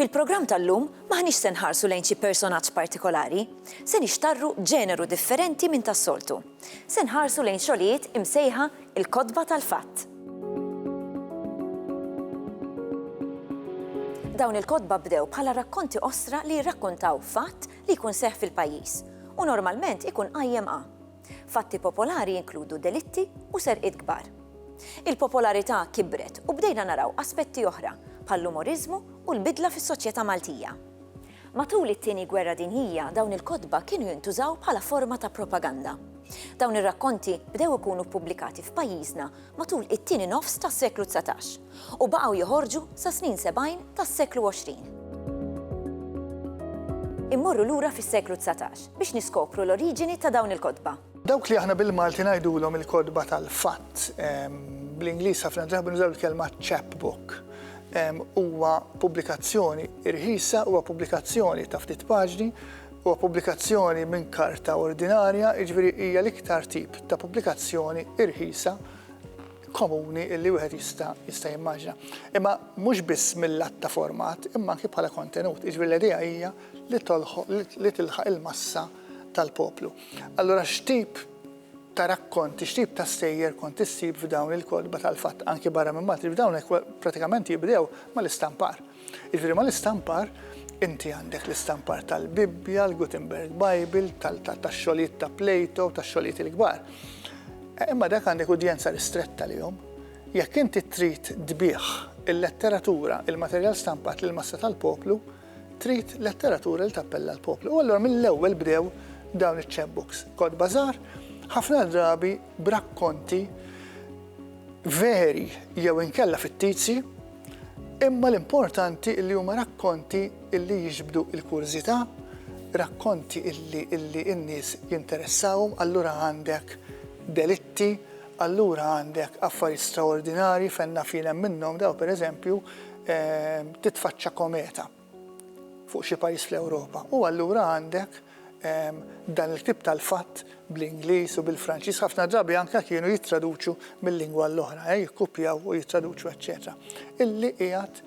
Fil-programm tal-lum maħniex se nħarsu lejn xi personaġġ partikolari, se nixtarru ġeneru differenti minn tas-soltu. Se nħarsu lejn xogħlijiet imsejħa il-kotba tal-fatt. Dawn il-kotba bdew bħala rakkonti ostra li jirrakkontaw fatt li jkun seħħ fil-pajjiż u normalment ikun qajjem a. Fatti popolari jinkludu delitti u serqiet kbar. Il-popolarità kibret u bdejna naraw aspetti oħra bħall-umoriżmu u l-bidla fis-soċjetà Maltija. Matul it-Tieni Gwerra Dinjija dawn il-kotba kienu jintużaw bħala forma ta' propaganda. Dawn ir-rakkonti bdew ikunu ppubblikati f'pajjiżna matul it-tieni nofs tas-seklu dsatax u baqgħu joħorġu sas-snin sebgħin tas-seklu għoxrin. Immorru lura fis-seklu dsatax biex niskopru l-oriġini ta' dawn il-kotba. Dawk li aħna bil-Malti ngħidulhom il-kotba tal-fatt, bl-Ingliż ħafna drabi nużaw il-kelma chapbook, huwa pubblikazzjoni rħisa, huwa pubblikazzjoni ta' ftit paġni Huwa pubblikazzjoni minn karta ordinarja, jiġifieri hija l-iktar tip ta' pubblikazzjoni irħisa komuni illi wieħed jista' jista' jimmaġina. Imma mhux biss mill-att ta' format, imma anki bħala kontenut. Jiġifieri l-idea hija li tolħoq li tilħaq il-massa tal-poplu. Allura x'tip ta' rakkont, x'tip ta' stejjer kont issib f'dawn il-kotba tal-fatt anki barra minn Malti, f'dawn pratikament jibdew mal-istampar. Jiġifieri mal-istampar inti għandek l-istampar tal-Bibbja, l-Gutenberg Bible, tax-xogħlijiet ta' Plato, tax-xogħlijiet il-kbar. Imma dak għandek udjenza ristretta lihom. Jekk inti trid tbigħ il-letteratura, il-materjal stampat lill-massa tal-poplu, trid letteratura li tappella l-poplu. U allura mill-ewwel bdew dawn iċ-chapbooks. Kotba żgħar, ħafna drabi b'rakkonti veri jew inkella fittizji, Imma l-importanti li huma rakkonti li jiġbdu l-kurżità, rakkonti li n-nies jinteressahom, allura għandek delitti, allura għandek affarijiet straordinarji fejn naf jien hemm minnhom dawn pereżempju titfaċċa kometa. fuq xi pajjiż fl-Ewropa u allura għandek dan il-ktieb tal-fatt bl-Ingliż u bil-Franċiż ħafna drabi anke kienu jittraduċu mil-lingwa l-oħra, eh, jikkupjaw u jittraduċu eċċetera. Illi qiegħed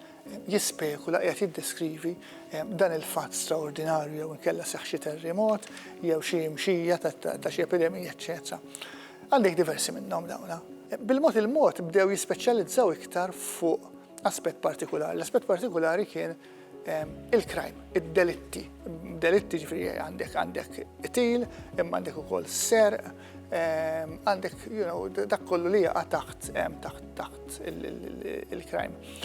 jispekula qiegħed jiddeskrivi eh, dan il-fatt straordinarju jew inkella seħħ xi terremot jew xi mxija ta' xi epidemija eċċetera. Għandek diversi minnhom dawna. Bil-mod il-mod bdew jispeċjalizzaw iktar fuq aspett partikulari. L-aspett partikulari kien ehm, il-crime, id-delitti. Delitti ġifri għandek għandek til, imma għandek ukoll ser, ehm, għandek you know, dak kollu li jaqa' taħt ehm, taħt taħt il-crime.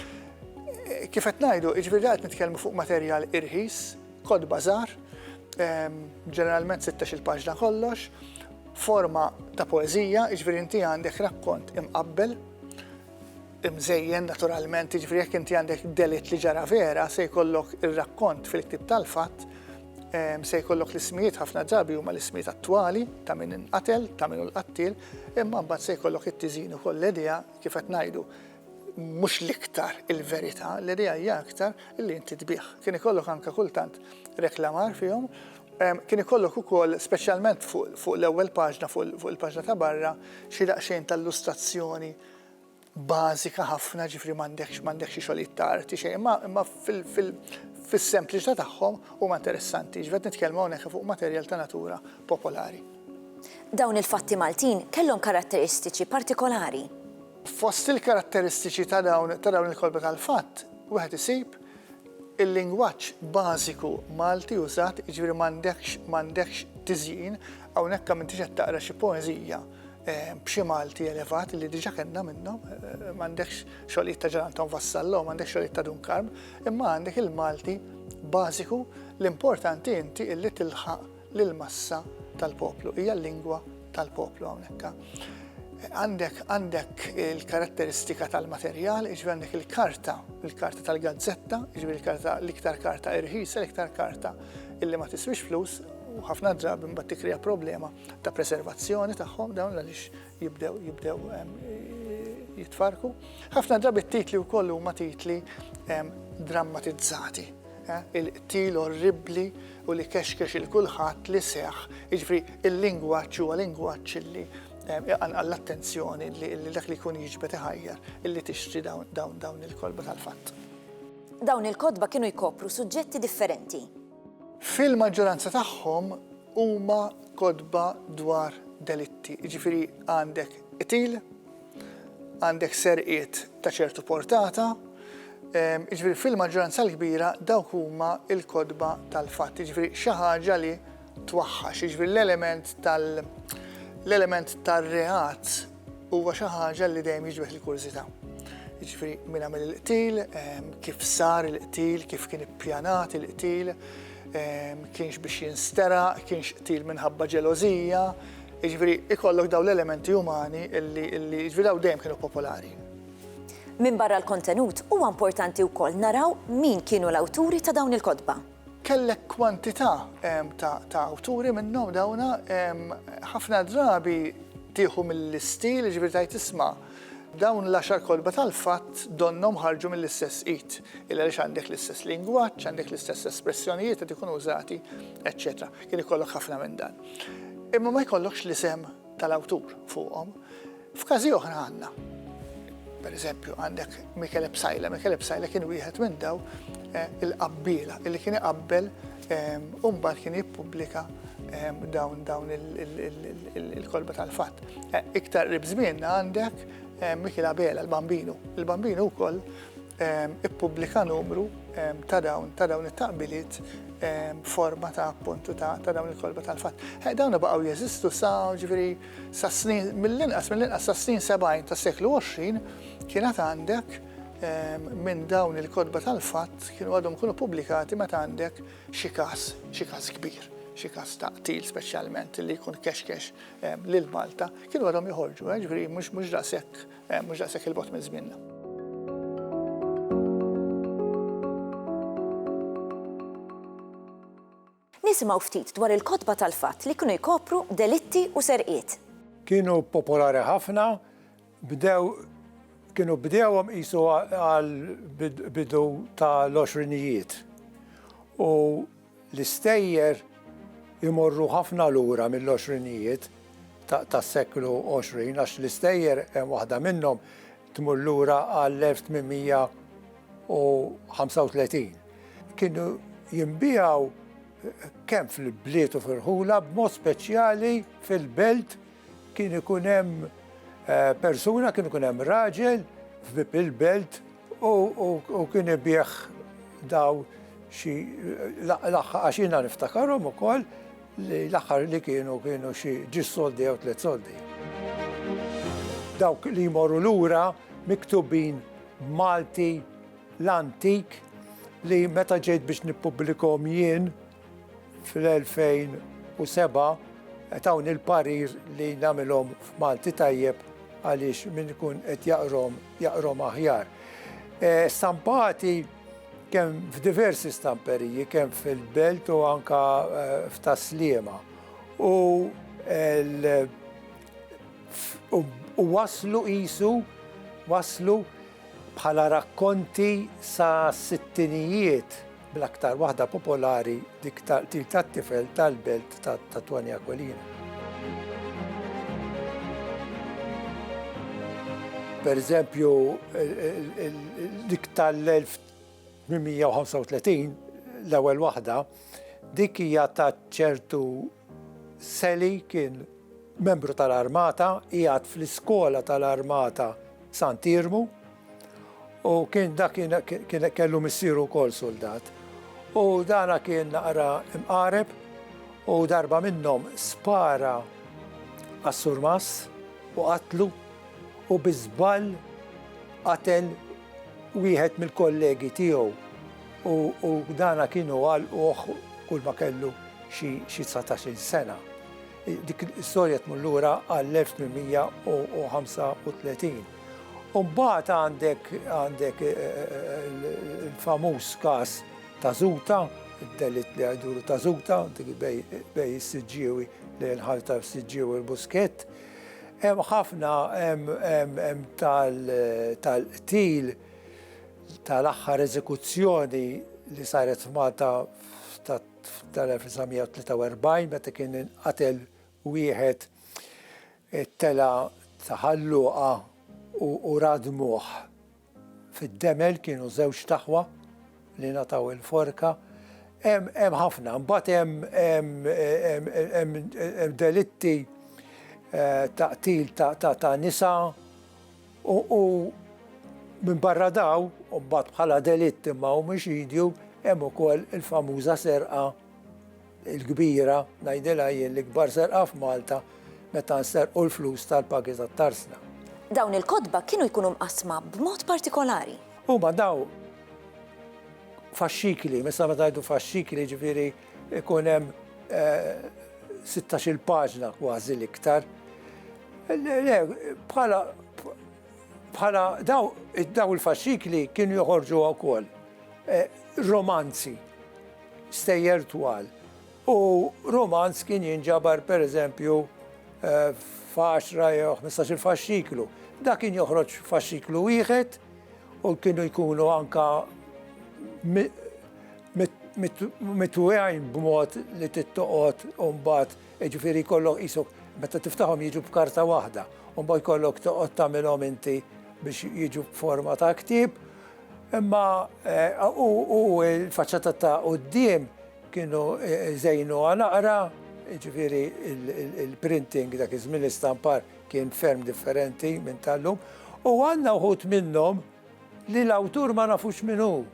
Eh, kif qed ngħidu, ġifri qed nitkellmu fuq materjal irħis, kod bazar, ġeneralment 16 il-paġna kollox, forma ta' poezija, ġifri inti għandek rakkont imqabbel, imżejjen naturalment, jiġifieri jekk inti għandek delitt li ġara vera se jkollok ir-rakkont fil-ktieb tal-fatt, se jkollok l-ismijiet ħafna drabi huma l-ismijiet attwali ta' min inqatel, ta' min hu l-qattiel, imma mbagħad se jkollok it-tiżin ukoll l-idea kif qed ngħidu mhux l-iktar il-verità, l-idea hija aktar li inti tbigħ. Kien ikollok anke kultant reklamar fihom, kien ikollok ukoll speċjalment fuq l-ewwel paġna, fuq il-paġna ta' barra, xi daqsxejn ta' illustrazzjoni bażika ħafna, ġifieri m'għandekx m'għandekx xi xogħlijiet ta' arti xejn, imma imma fil fil fis-sempliċità tagħhom huma interessanti, ġifieri qed nitkellmu hawnhekk fuq materjal ta' natura popolari. Dawn il-fatti Maltin kellhom karatteristiċi partikolari. Fost il-karatteristiċi ta' dawn ta' dawn il-kotba tal-fatt, wieħed isib il-lingwaġġ bażiku Malti użat, jiġifieri m'għandekx m'għandekx tiżjin, hawnhekk m'intix qed taqra xi poeżija, b'xi Malti elevat li diġa kellna minnhom, m'għandekx xogħlijiet ta' Ġan Anton Vassallo, m'għandekx xogħlijiet ta' Dun Karm, imma għandek il-Malti bażiku l-importanti inti illi tilħaq lill-massa tal-poplu, hija l-lingwa tal-poplu hawnhekk. Għandek għandek il-karatteristika tal-materjal, iġbi għandek il-karta, il-karta tal-gazzetta, iġbi il-karta l-iktar karta irħisa, l-iktar karta illi ma tiswix flus, u ħafna drabi mbagħad tikrija problema ta' preservazzjoni tagħhom dawn għaliex jibdew jibdew jitfarku. Ħafna drabi titli wkoll huma titli drammatizzati. Eh, il-qtil orribli u li kexkex il-kulħadd li seħ, iġifri il-lingwaċ huwa lingwaċ li iqanqal l-attenzjoni li dak li kun jiġbet iħajjar illi tixtri dawn il-kolba tal-fatt. Dawn il-kodba kienu jkopru suġġetti differenti Fil-maġġoranza tagħhom huma kotba dwar delitti, jiġifieri għandek qtil, għandek serqiet ta' ċertu portata, jiġifieri fil-maġġoranza l-kbira dawk huma l-kotba tal-fatt, jiġifieri xi ħaġa li twaħħax, jiġifieri l-element tal-element tar-reat huwa xi ħaġa li dejjem jiġbed il-kurżità. Jiġifieri min għamel il-qtil, ehm, kif sar il-qtil, kif kien ippjanat il-qtil, ehm, kienx biex jinstera, kienx qtil minħabba ġelożija, jiġifieri ikollok dawn l-elementi umani illi jiġifieri daw dejjem kienu popolari. Minn barra l-kontenut huwa importanti wkoll naraw min kienu l-awturi ta' dawn il-kotba. Kellek kwantità ta' awturi minnhom dawna ħafna drabi tieħu mill-istil, jiġifieri tgħid isma' dawn l-għaxar kotba tal-fatt donnhom ħarġu mill-istess id, illi għaliex għandek l-istess lingwaġġ, għandek l-istess espressjonijiet qed ikunu użati, eċċetera. Kien ikollok ħafna minn dan. Imma ma jkollokx l-isem tal-awtur fuqhom. F'każi oħra għandna. Per eżempju, għandek Michele Psajla. Michele Psajla kien wieħed minn daw eh, il-qabbila li kien iqabbel ehm, u mbagħad kien jippubblika ehm, dawn dawn il-kolba tal-fatt. Eh, iktar rib żmienna għandek eh, Michele Abela, l-Bambinu. Il-Bambinu wkoll ippubblika numru ta' dawn ta' dawn it-taqbiliet forma ta' appuntu ta' ta' dawn il-kolba tal-fatt. Eh, dawn baqgħu jeżistu sa ġifieri sa snin mill-inqas mill-inqas sa snin 70 ta' seklu 20 kienet għandek minn dawn il-kodba tal-fatt kienu għadhom kunu pubblikati meta għandek xi każ, xi każ kbir, xi każ ta' qtil speċjalment li jkun kexkex lil Malta, kienu għadhom joħorġu, eh, ġifieri mhux mhux daqshekk eh, mhux daqshekk il-bot minn żmienna. Nisimgħu ftit dwar il-kotba tal-fatt li kienu jkopru delitti u serqiet. Kienu popolari ħafna, bdew kienu bdewhom qisu għal bidu tal-20 u L-istejjer imorru ħafna lura mill-għoxrinijiet tas-seklu 20 għax l-istejjer, waħda minnhom tmur lura għall-1835. Kienu jinbiegħu kemm fil-bliet u fir-rħula, b'mod speċjali fil-belt kien ikun hemm persuna, kien ikun hemm raġel f'bieb il-belt, U kien ibieħ daw xi l-aħħar għax jiena niftakarhom ukoll li l-aħħar li kienu kienu xi ġis soldi jew tliet soldi. Dawk li jmorru lura miktubin b'Malti l-antik li meta ġejt biex nippublikhom jien, fl-2007 qed hawn il-parir li nagħmilhom f'Malti tajjeb għaliex min ikun qed jaqrom jaqrom aħjar. Eh, stampati kemm f'diversi stamperiji, kemm fil-belt u anka eh, f'taslima. U u waslu isu, waslu bħala rakkonti sa sittinijiet bl-aktar waħda popolari dik tal-qtil tat-tifel tal-belt ta' Tony Aquilina. Per eżempju, dik tal-1835, l-ewwel waħda, dik hija ta' ċertu Sally kien membru tal-armata, qiegħed fl-iskola tal-armata Sant'Iermu u kien dak kien kellu missieru wkoll suldat. U dana kien naqra imqareb u darba minnhom spara għas-surmas u qatlu u biżball qatel wieħed mill-kollegi tiegħu. u dana kienu għalquh kull ma kellu xi xi dsatax-il sena. Dik l-istorja tmur lura għall-1835. U mbagħad għandek għandek il-famuż każ ta' Zuta, id-delitt li jduru ta' Zuta, dik bej bej is-Siġġiewi lejn il-ħal ta' Siġġiewi u Buskett. Hemm ħafna hemm hemm hemm tal tal-qtil tal-aħħar eżekuzzjoni li saret f'Malta tal-1943 meta kien inqatel wieħed it-tela ta' Ħalluqa u radmuh fid-demel kienu żewġ taħwa li ngħataw il-forka. Hemm ħafna, mbagħad hemm delitti eh, ta' qtil ta' nisa, U, u minbarra daw, u mbagħad bħala delitt imma humiex jidju, hemm ukoll il-famuża serqa l-kbira, ngħidilha jien l-ikbar serqa f'Malta, meta nserqu l-flus tal-pagi tat-tarsna. Dawn il-kotba kienu jkunu mqassma b'mod partikolari. Huma daw faxxikli, meta ngħidu faxxikli jiġifieri. Ikun hemm 16-il paġna kważi l-iktar. Bħala bħala daw daw il-faxxikli kienu joħorġu wkoll romanzi stejjer twal. U romanz kien jinġabar per eżempju f'għaxra jew 15-il faxxiklu. Dak kien joħroġ faxxiklu wieħed u kienu jkunu anka Mitwegħin b'mod li tittoqgħod u mbagħad jiġifieri jkollok qisok meta tiftaħhom jiġu b'karta waħda, u mbagħad jkollok toqgħod tagħmilhom inti biex jiġu b'forma ta' ktieb. Imma eh, u l-faċċata ta' quddiem kienu eh, żejnu naqra, ġifiri il-printing dak iż-żmien l-istampar kien ferm differenti minn tal-lum, u għandna uħut minnhom li l-awtur ma nafux minnu.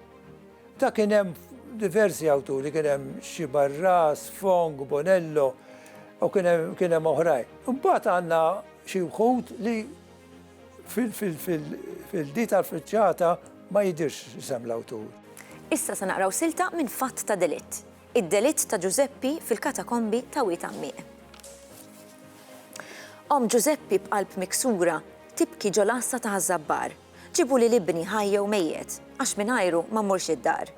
Ta' kien hemm diversi awturi, kien hemm xi Barras, Fong, Bonello, u kien hemm kien hemm oħrajn. Imbagħad għandna xi wħud li fil- fil- fil- fil-di tal-friċċata ma jidhirx isem l-awtur. Issa se naqraw silta minn Fatt ta' Delitt, Id-delitt ta' Ġużeppi fil-katakombi ta' Wied Għammieq. Omm Ġużeppi b'qalb miksura tibki ġol-għassa ta' Ħaż-Żabbar. Ġibu lil ibni ħaj jew mejjet, għax mingħajru ma mmurx id-dar.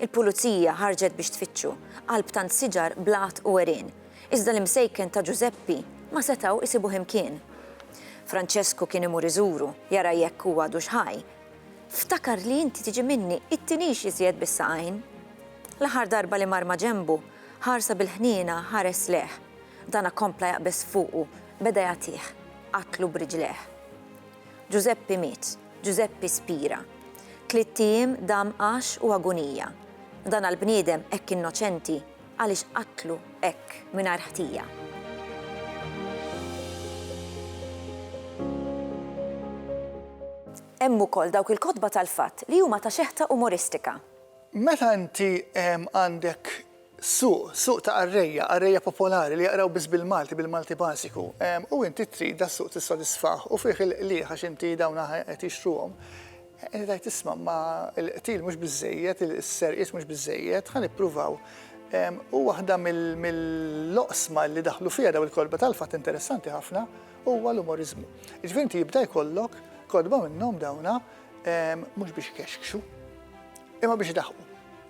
Il-pulizija ħarġet biex tfittxu, qalb tant siġar, blat u għerien. Iżda l-imsejken ta' Ġużeppi ma setgħu isibuh imkien. Franċesku kien imur iżuru, jara jekk hu għadux ħaj. Ftakar li inti tiġi minni, ittinix iżjed bis-saqajn. L-aħħar darba li mar ma' ġenbu, ħarsa bil-ħniena ħares lejh. Dana kompla jaqbeż fuqu, beda jagħtih. Qatlu b'riġlejh. Ġużeppi miet, Ġużeppi spira. Tlitt ijiem dam għax u agunija. Dan għall-bniedem hekk innoċenti, għaliex qatlu hekk mingħajr ħtija. Hemm ukoll dawk il-kotba tal-fatt li huma ta' xeħta umoristika. Meta inti għandek Suq, suq ta' qarrejja, qarrejja popolari li jaqraw biss bil-Malti, bil-Malti bażiku. U inti trid das-suq tissodisfah u fih il-qligħ għax inti dawn aħna qed jixtruhom. Inti tgħid isma' imma l-qtil mhux biżżejjed, is-serqiet mhux biżżejjed, ħa nippruvaw. U waħda mill-oqsma li daħlu fiha dawn il-kotba tal-fatt interessanti ħafna huwa l-umoriżmu. Jiġifieri inti jibda jkollok kotba minnhom dawn Mhux biex ikexkxu, imma biex idaħqu.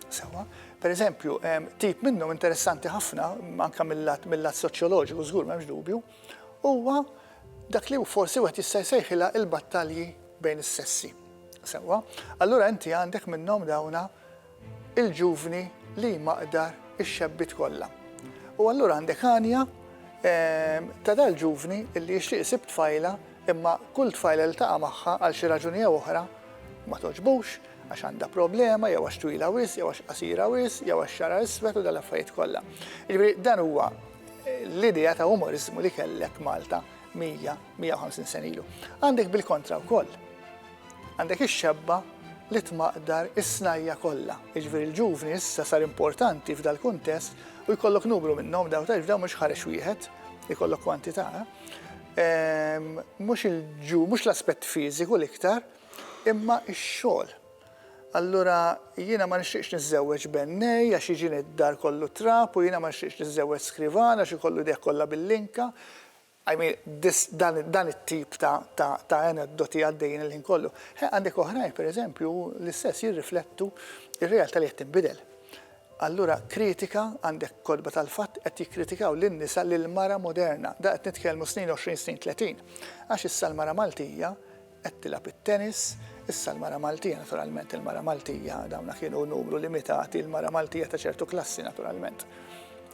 Sewa, per eżempju, tip minnhom interessanti ħafna, anke mill-lat mill-lat soċjoloġiku żgur m'hemmx dubju, huwa dak li forsi wieħed jista' jsejħilha il-battalji bejn is-sessi. Sewwa, allura inti għandek minnhom dawna Il-ġuvni li jmaqdar ix-xebbiet kollha. U allura għandek għanja ta' dal-ġuvni li jixtieq isib tfajla imma kull tfajla li ltaqa' magħha għal xi raġuni jew oħra ma togħġbux għax għandha problema jew għax twila wisq jew għax qasira wisq jew għax xagħarha iswed u dal-affarijiet kollha. Jiġifieri dan huwa l-idea ta' umoriżmu li kellek Malta 100, 150 sena ilu. Għandek bil-kontra wkoll. Għandek ix-xebba li tmaqdar is-snajja' kollha. Jiġifieri l-ġuvni issa sar importanti f'dal-kuntest u jkollok numru minnhom dawn taf dawn mhux ħarex wieħed, ikollok kwantità. Ehm, mhux il-ġu, mhux l-aspett fiżiku l-iktar, imma x-xogħol. Allura jiena ma nixtieqx niżżewweġ bennej għax jiġini d-dar kollu trab u jiena ma nixtieqx niżżewweġ skrivan għax ikollu deh kollha bil-linka. I mean this dan it-tip ta' aneddoti għaddejjin il-ħin kollu. He, għandek oħrajn, per eżempju, l-istess jirriflettu r-realtà li qed tinbidel. Allura kritika, għandek kotba tal-fatt qed jikkritikaw lin-nisa, lill-mara moderna. Da qed nitkellmu snin 20, snin 30. Għax issa l-mara Maltija Qed tilgħab it-tennis, issa l-mara Maltija, naturalment il-mara Maltija, dawna kienu numru limitati, il-mara Maltija ta' ċertu klassi naturalment.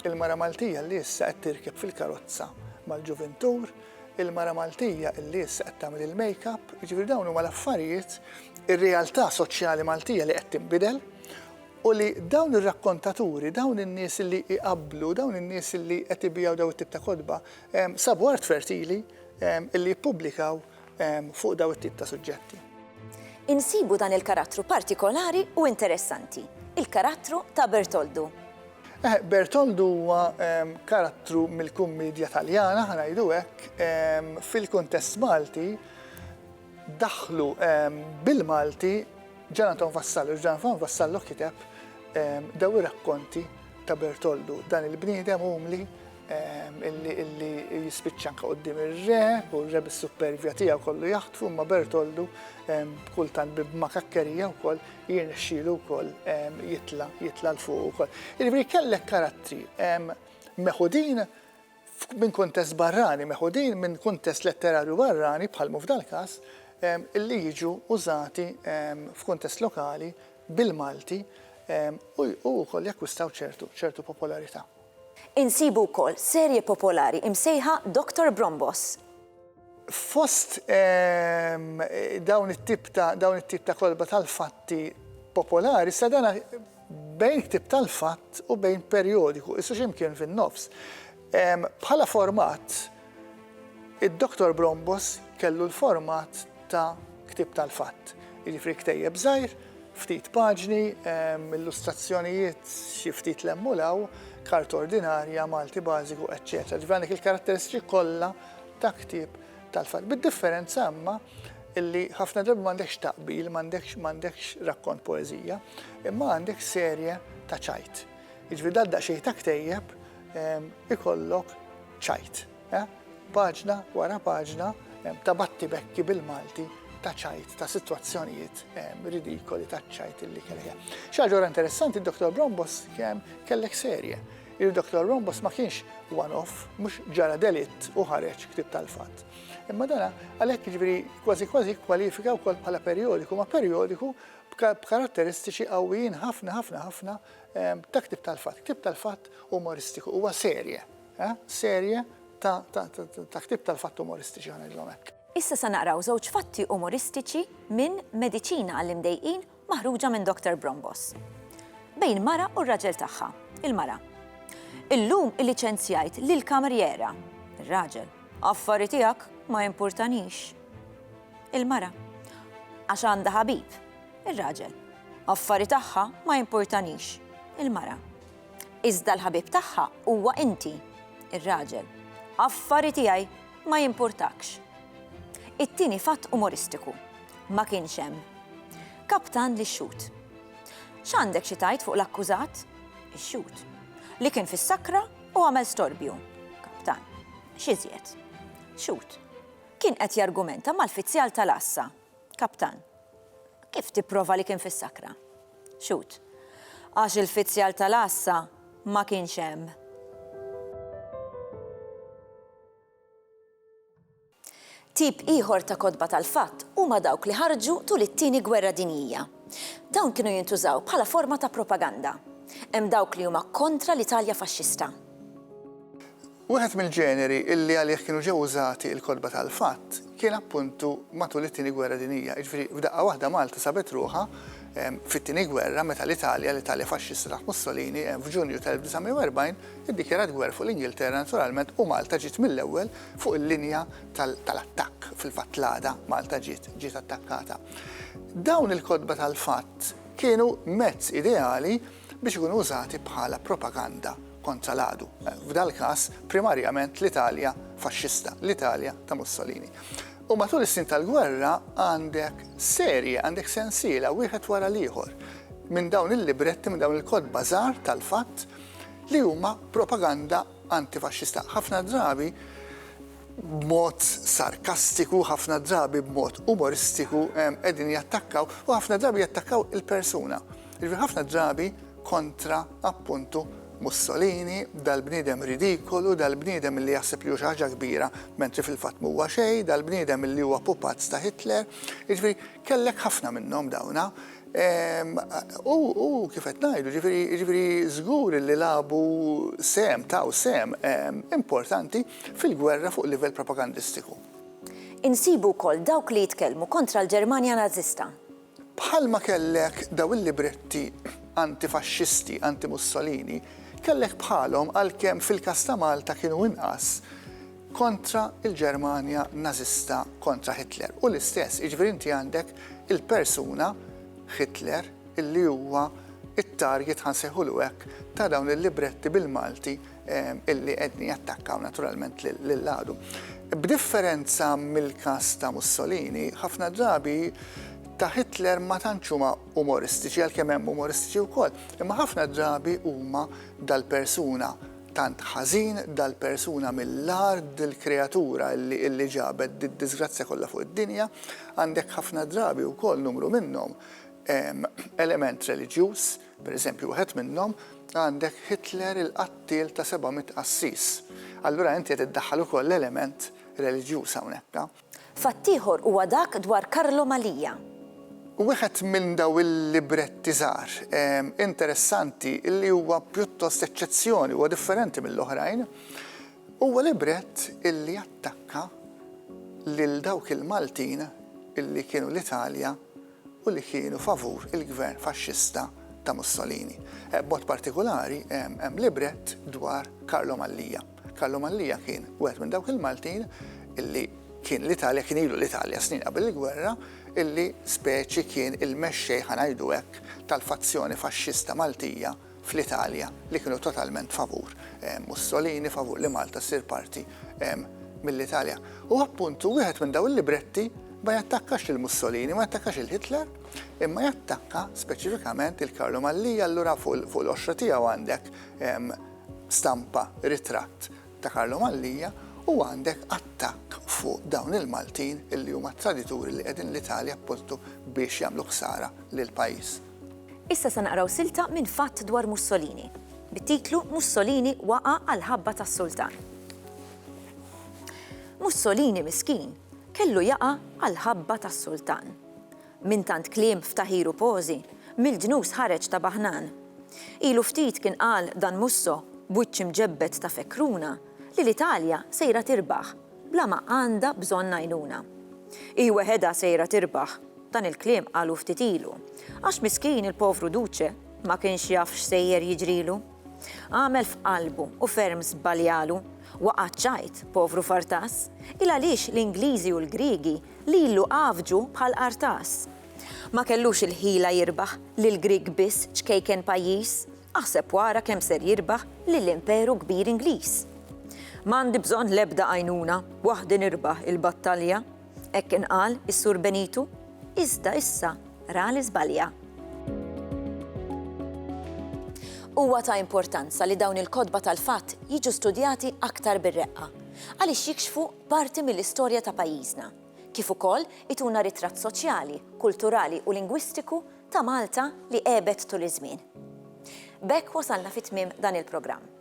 Il-mara Maltija li issa qed tirkeb fil-karozza mal-ġuvintur, il-mara Maltija li issa qed tagħmel il-makeup, jiġifieri dawn huma l-affarijiet, ir-realtà soċjali Maltija li qed tinbidel u li dawn ir-rakkontaturi, dawn in-nies li jqabblu, dawn in-nies li qed ibiegħu dawn it-tip ta' kotba, sabu art fertili li jippubblikaw fuq dawn it-tip ta' suġġetti. Insibu dan il-karattru partikolari u interessanti, il-karattru ta' Bertoldu. Bertoldu huwa karattru mill-kummiedja Taljana, ħa ngħidu hekk, fil-kuntest Malti daħħlu bil-Malti Gian Anton Vassallo, Gian Anton Vassallo kiteb dawn ir-rakkonti ta' Bertoldu, dan il-bniedem umli, illi jispiċċa anke quddiem ir-re, u r-re bis-suppervja tiegħu kollu jaħtfu, imma Bertoldu kultant bi bmakakkerija wkoll jirnexxielu wkoll jitla' jitla' 'l fuq ukoll. Jiġifieri kellek karattri meħudin minn kuntest barrani, meħudin minn kuntest letterarju barrani bħal mhu f'dal-każ, illi jiġu użati f'kuntest lokali bil-Malti u wkoll jakkwistaw ċertu popolarità. Insibu wkoll serje popolari imsejħa Doctor Brombos. Fost dawn it-tip ta' dawn it-tip ta' kotba tal-fatti popolari sa dan bejn ktieb tal-fatt u bejn perjodiku, qisu xi mkien fin-nofs. Bħala format, Id-Dottor Brombos kellu l-format ta' ktieb tal-fatt, jiġifieri ktejjeb żgħir, ftit paġni, illustrazzjonijiet xi ftit 'l hemm u 'l hawn, karta ordinarja, Malti bażiku, eċċetera. Ġifieri għandek il-karatteristiċi kollha ta' ktieb tal-fatt. Bid-differenza imma li ħafna drabi m'għandekx taqbil, m'għandekx rakkont poeżija, imma għandek serje ta' ċajt. Jiġifieri dal-daqsxejn ta' ktejjeb ikollok Ċajt, eh? Paġna wara paġna ta' battibekki bil-Malti ta' ċajt, ta' sitwazzjonijiet ridikoli ta' ċajt li kellha. Xaġora interessanti, Dr. Brombos kellek serje. Il-Dr. Brombos ma kienx one-off, mhux ġara delitt u ħareġ ktib tal-fatt. Imma dana għalhekk ġifieri kważi kważi kwalifika wkoll bħala perjodiku, ma perjodiku b'karatteristiċi qawwijin ħafna ħafna ħafna ta' ktib tal-fatt. Ktib tal-fatt umoristiku huwa serje. Serje ta' ktieb tal-fatti umoristiċi ħa ngħidilhom hekk. Issa se naqraw żewġ fatti umoristiċi minn Mediċina għall-Imdejqin maħruġa minn Doctor Brombos. Bejn mara u r-raġel tagħha. Il-mara, Illum illiċenzjajt lill-kamerjera. Ir-raġel, Affari tiegħek, ma jimpurtanix. Il-mara, Għax għandha ħabib. Ir-raġel, Affari tagħha, ma jimpurtanix. Il-mara, Iżda l-ħabib tagħha huwa inti, ir-raġel. Affari tiegħi ma jimpurtakx. It-tieni fatt umoristiku. Ma kienx hemm. Kaptan lix-xhud. X'għandek xi tgħid fuq l-akkużat? Ix-xhud. Li kien fis-sakra u għamel storbju. Kaptan. X'iżjed? Xhud. Kien qed jargumenta mal-fizzjal tal-għassa. Kaptan, Kif tipprova li kien fis-sakra? Xhud, Għax il-fizzjal tal-għassa ma kienx hemm. Tip ieħor ta' kotba tal-fatt huma dawk li ħarġu tul it-Tieni Gwerra Dinjija. Dawn kienu jintużaw bħala forma ta' propaganda. Hemm dawk li huma kontra l-Italja Faxxista. Wieħed mill-ġeneri li għalih kienu ġew użati l-kotba tal-fatt kien appuntu matul it-Tieni Gwerra Dinjija. Jiġifieri f'daqqa waħda Malta sabet ruħha fit-Tieni Gwerra meta l-Italja, l-Italja faxxista taħt Mussolini, f'Ġunju tal-1940 iddikjarat gwerra fuq l-Ingilterra naturalment u Malta ġiet mill-ewwel fuq il-linja tal-attakk. Fil-fatt l-għada Malta ġiet ġiet attakkata. Dawn il-kotba tal-fatt kienu mezz ideali biex ikunu użati bħala propaganda kontra l-għadu, f'dal-każ primarjament l-Italja faxxista, l-Italja ta' Mussolini. U matul is-snin tal-gwerra għandek serje, għandek sensiela wieħed wara l-ieħor minn dawn il-libretti, minn dawn il-kodba żgħar tal-fatt li huma propaganda antifaxxista. Ħafna drabi b'mod sarkastiku, ħafna drabi b'mod umoristiku qegħdin jattakkaw u ħafna drabi jattakkaw il-persuna. Jiġifieri ħafna drabi kontra appuntu Mussolini, dal-bniedem ridikolu, dal-bniedem li jaħseb li hu xi ħaġa kbira mentri fil-fatt m'huwa xejn, dal-bniedem li huwa pupazz ta' Hitler. Jiġifieri kellek ħafna minnhom dawna. Ehm, u kif qed ngħidu, jiġifieri, jiġifieri żgur li labu sem, taw sem ehm, importanti fil-gwerra fuq livell propagandistiku. Insibu wkoll dawk li jitkellmu kontra l-Ġermanja Nażista. Bħalma kellek dawn il-libretti antifaxxisti, antimussolini, kellek bħalhom, għalkemm fil-każ ta' Malta kienu inqas, kontra l-Ġermanja Nażista, kontra Hitler. Hu l-istess, jiġifieri inti għandek il-persuna, Hitler, li huwa t-target, ħa nsejħulu hekk, ta' dawn il-libretti bil-Malti illi qegħdin jattakkaw naturalment lill-għadu. B'differenza mill-każ ta' Mussolini, ħafna drabi ta' Hitler ma tantx huma umoristiċi għalkemm hemm umoristiċi wkoll, imma ħafna drabi huma dal-persuna tant ħażin dal-persuna mill-ard dil-kreatura illi ġabet did-disgrazzja kollha fuq id-dinja, għandek ħafna drabi wkoll numru minnhom element reliġjuż, Per eżempju, wieħed minnhom għandek Hitler il-qattiel ta' 700 qassis. Allura inti qed iddaħħal ukoll l-element reliġjuż hawnhekk. Fatt ieħor huwa dak dwar Carlo Malia. Wieħed minn dawn il-libretti żgħar interessanti li huwa pjuttost eċċezzjoni, huwa differenti mill-oħrajn, huwa librett li jattakka lil dawk il-Maltin li kienu l-Italja u li kienu favur il-gvern faxxista ta' Mussolini. B'mod partikulari hemm librett dwar Karlo Mallia. Karlo Mallia kien wieħed minn dawk il-Maltin li kien l-Italja, kien ilu l-Italja snin qabel il-gwerra, li speċi kien il-mexxej, ħa ngħidu hekk, tal-fazzjoni faxxista Maltija. fl-Italja li kienu totalment favur Mussolini, favur li Malta ssir parti mill-Italja. U appuntu wieħed minn daw il-libretti ma jattakkax lil Mussolini, ma jattakkax il Hitler, imma jattakka speċifikament il-Karlu Mallia allura fuq l-oxra tiegħu għandek stampa ritratt ta' Karlu Mallia u għandek attakk fuq dawn il-Maltin illi huma tradituri li qegħdin l-Italja appostu biex jagħmlu ħsara lill-pajjiż. Issa se naqraw silta minn Fatt dwar Mussolini, bit-titlu Mussolini waqa' għall-ħabba tas-Sultan. Mussolini miskin kellu jaqa' għall-ħabba tas-Sultan. Minn tant kliem f'taħir u pożi, mill-ġnus ħareġ ta' baħnan. Ilu ftit kien qal dan Musso b'wiċċ imġebbed ta' fekkruna li l-Italja sejra tirbaħ bla ma għandha bżonn għajnuna. Hi weħedha sejra tirbaħ Dan il-kliem qalu ftit ilu. Għax miskin il-povru Duce ma kienx jaf x'sejjer jiġrilu. Għamel f'qalbu u ferm żbaljalu. Waqa' ċ-ċajt, povru Fartas. Il-għaliex l-Ingliżi u l-Griegi lilu għafġu bħal qartas. Ma kellux il-ħila jirbaħ lill-Grieg biss ċkejken pajjiż. Aħseb wara kemm ser jirbaħ lill-imperu kbir Ingliż. M'għandi bżonn l-ebda għajnuna, waħdi nirbaħ il-battalja. Hekk kien qal is-Sur Benito, iżda issa ra li żbalja. Huwa ta' importanza li dawn il-kotba tal-fatt jiġu studjati aktar bir-reqqa, għaliex jikxfu parti mill-istorja ta' pajjiżna, kif ukoll ituna ritratt soċjali, kulturali u lingwistiku ta' Malta li għebet tul iż-żmien. B'hekk wasalna fi tmiem dan il-programm.